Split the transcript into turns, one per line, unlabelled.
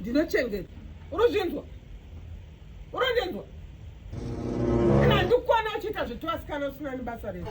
ndinochengeta unozvinzwa unondinzwa kana handikuona uchiita zvitwasikana usina nebasa redu